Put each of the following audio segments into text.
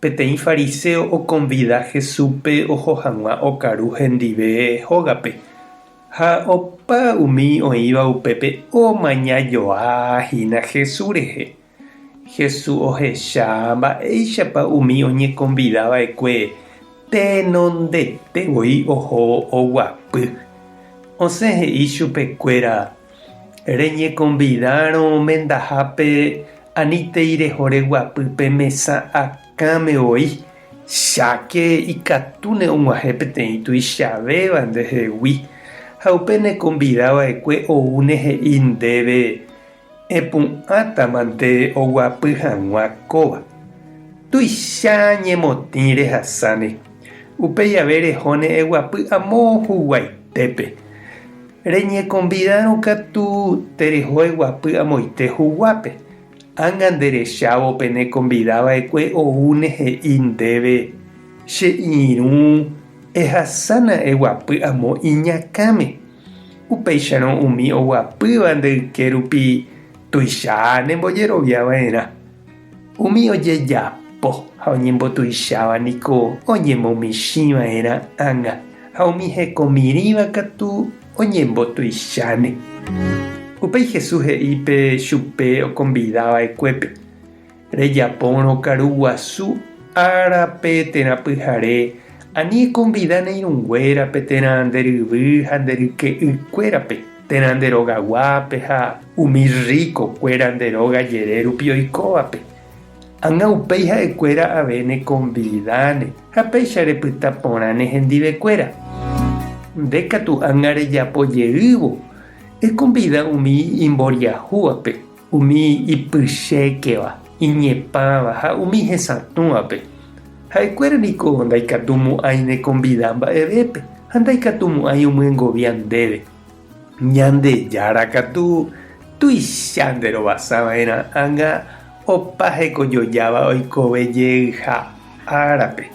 Peteĩ fariséo okonvida Jesúspe oho hag̃ua okaru hendive hógape, ha opa umi oĩva upépe omaña joa hína Jesús rehe. Jesús ohecha mba'éichapa umi oñekonvida va'ekue tenondete voi oho oguapy. Osẽ he'i chupekuéra Reñekonvidárõ mendahápe anítei reho reguapy pe mesa akãme voi, cháke ikatúne og̃uahẽ peteĩ tuichavéva ndehegui, ha upe nekonvida va'ekue oúne he'i ndéve epu'ãtamante oguapy hag̃ua kóva. Tuicha ñemotĩ rehasáne, upéi jave rehóne eguapy amo huguaitépe. Reñekonvidárõ katu tereho eguapy amoite huguápe. Ág̃a nderechávo pe nekonvida va'ekue oúne he'i ndéve, Che irũ ehasána eguapy amo iñakãme. Upéicharõ umi oguapýva nde yke rupi tuicha nembojerovia va'erã. Umi ojejapo ha oñembotuicháva niko oñemomichĩva'erã ág̃a, ha umi hekomirĩva katu oñembotuicháne. Upéi Jesús he'i pe chupe okonvidava'ekuépe, Rejapórõ karu guasu ára pe térã pyhare, ani ekonvida neirũnguéra pe térã nde ryvy ha nde ryke'ykuérape. térã nde róga guápe ha umi rríko kuéra nde róga jere rupi oikóvape. Ág̃a upéi ha'e kuéra ave ne konvidáne ha péicha repyta porã ne hendive kuéra. Nde katu ág̃a rejapo jeývo, ekonvida umi imboriahúvape Umi ipychékeva, iñepãva ha umi hesatũvape, ha'ekuéra niko ndaikatumo'ãi nekonvida mba'evépe ha ndaikatumo'ãi omyengovia ndéve. Ñandejára katu tuicha nderovasava'erã ág̃a opa hekojojáva oikove jeyha. árape.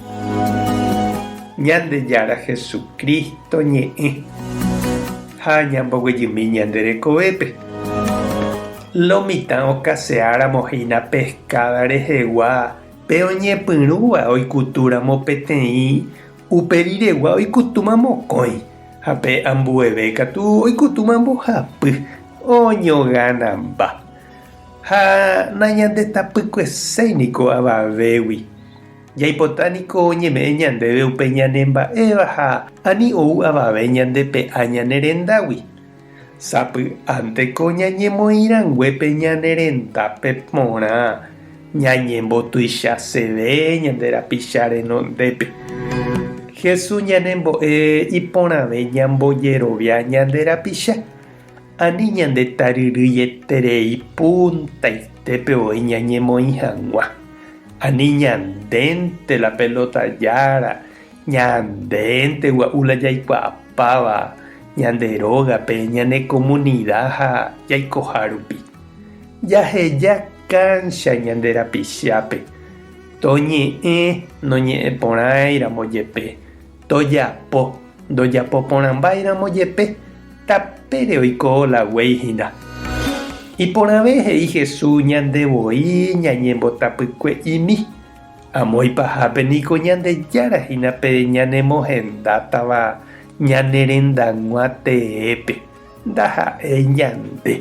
Ñandejára Jesucristo ñe'ẽ ha ñamboguejymi ñande rekovépe. Lo mitã okaseáramo hína pescada rehegua pe oñepyrũva oikutúramo peteĩ, upe riregua oikutúma mokõi, ha pe ambueve katu oikutúma mbohapy, oñoganamba. Ha nañandetapykueséi niko avavégui. Jaipota niko oñeme'ẽ ñandéve upe ñanemba'éva ha ani ou avave ñandepe'a ñane rendágui. Sapy'ánte ko ñañemoĩ rangue pe ñane rendápe porã ñañembotuichaseve ñande rapicha renondépe. Jesús ñanembo'e iporãve ñambojerovia ñande rapicha. Ani ñandetaryryeterei puntaitépeo oĩ ñañemoĩ hag̃ua, ani ñandénte la pelota jára, ñandénte gua'u la jaikuaapáva ñande rógape, ñane komunida ha jaikoha rupi. Jaheja káncha ñande rapichápe, toñe'ẽ noñe'ẽporãiramo jepe. Tojapo, ndojapo porãmbáiramo jepe, tapére oiko la guéi hína. Iporãve he'i Jesús ñande voi ñañembotapykue'imi. Amo ipahápe niko Ñandejára hína pe ñanemohendátava ñane rendag̃ua teépe. Ndaha'éi ñande.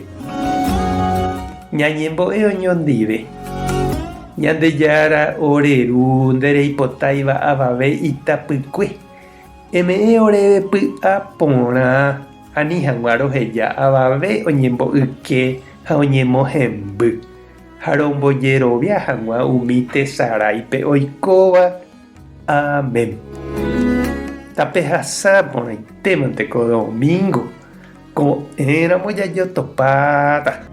Ñañembo'e oñondive. Ñandejára ore Ru nde reipotáiva avave itapykue. Eme'ẽ oréve py'a porã ani hag̃ua roheja avave oñembo'yke ha oñemohemby, ha rombojerovia hag̃ua umi tesaráipe oikóva, Amén. Tapehasa porãitémante ko domingo, ko'ẽramo jajotopáta.